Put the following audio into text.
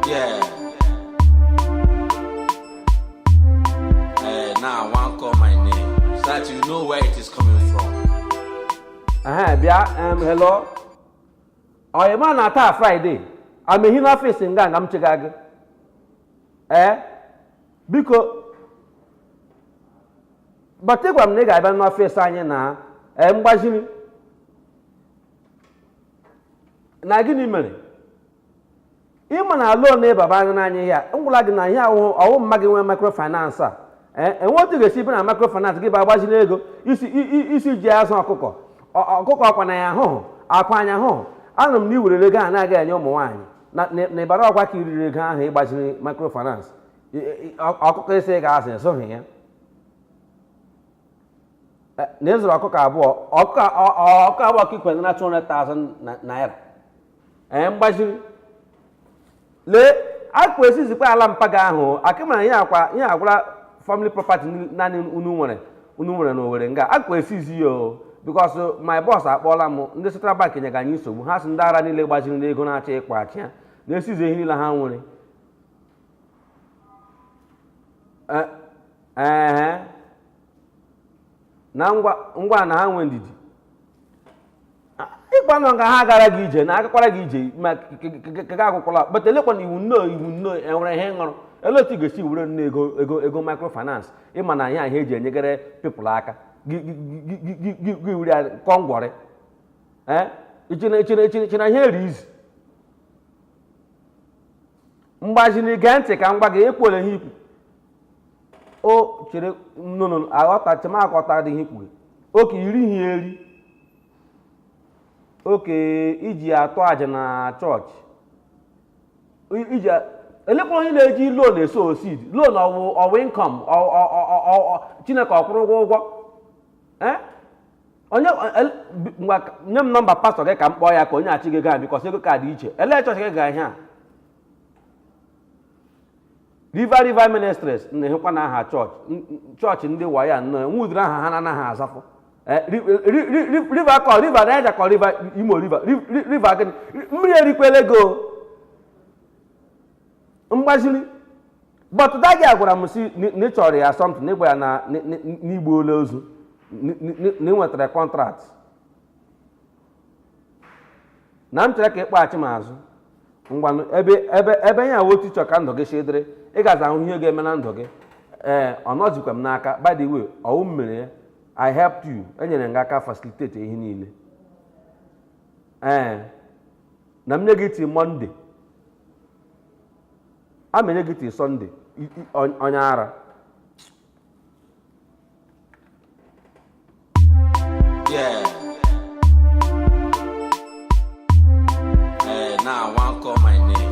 Yeah. Hey, now I want call my name so that you know where it is coming from. Uh-huh, bịa um, hello ọyị ma na taa Friday amehi n'office nga nga m chega gị ee biko but ị gwa m na ị ga-abịa n'office anyị na ee mgbaziri na gịnị mere ị ma na loan ị baba anyị n'anya ihe a ngwụla gị na ihe ahụhụ ọ wụ mma gị nwe microfinance a ee enwe otu ị ga-esi bịa na microfinance gị bịa gbaziri ego ị sị i- i- ị sị i ji azụ ọkụkọ Ọ- ọkụkọ ọkwa anya ahụhụ akwa anya ahụhụ anụrụ m na i werere ego a na-aga enye ụmụ nwaanyị na na- na ịbara ọkwa ka i riri ego ahụ ị gbaziri microfinance I- i- ọ- ọkụkọ ị sị ị ga-azụ esoghị ya Eh, na ị zụrụ ọkụkọ abụọ ọkụkọ abụọ ka ikwere na 200,000 naira ee eh, mgbaziri lee akwa e-seize kwa ala mpa gị ahụ akịmara ihe akwa ihe agwara family property naanị unu nwere unu nwere n'Owere nga akwa e-seize ya o because my boss akpọọla m ndị central bank nyega anyị nsogbu ha sị ndị ara niile gbaziri n'ego na-achọ ịkwụghachi ya na e-seize ihe niile ha nwere eh, ee na ngwa na ha nwee ndidi ịkwanụ ka ha gara gị ije na agakwara gị ije ma kega akwụkwọla but elekwanụ iwu nnọọ iwu nnọọ enwere ihe ṅụrụ ele otu ị ga-esi were nnọọ ego ego ego microfinance ị ma na ihe ahụ eji enyegere people aka gị were ya kụọ ngwọrị ee i che na i che na i che na ihe a rị easy mgbaziri gee ntị ka m gwa gị ekwule ihe ikwu o chere nnụnụ aghọta chemakọta dị ihe i kwuga ọ ke i rihi eri ọ ke i ji atụ aja na church I- iji a- elekwa onye na-eji loan e-sow seed loan ọ wụ ọ wụ income Chineke ọ kwụrụ ụgwọ ụgwọ Eh? onye eh, nye m number pastor gị ka m kpọọ ya ka o nyeachi gị gaa because ego ka dị iche elee church gị ga ihe a river river ministries na-ehekwa na aha church church ndị wayo nnọọ nwe ụdịrị aha ha na-anaghị azafụ eh, river kọ river Niger kọ river Imo river river gịnị mmiri erikwela ego mgbaziri but dagi a gwara m si na ị chọrọ ya something na ị gwa ya na i gbuola ozu na ị nwetara contract na m chere ka ị kpọghachi m azụ ngwanụ ebe ebe ebe ya wụ otu ị chọ ka ndụ gị si dịrị ị gazi ahụ ihe ga-eme na ndụ gị ee ọ nọzikwa m n'aka by the way ọ wụ m mere ya i helped you enyere m gị aka facilitate ihe niile ee na m nye gị till monday a menye gị tii sọnde onye ara Yeah. Hey, now I want call my name.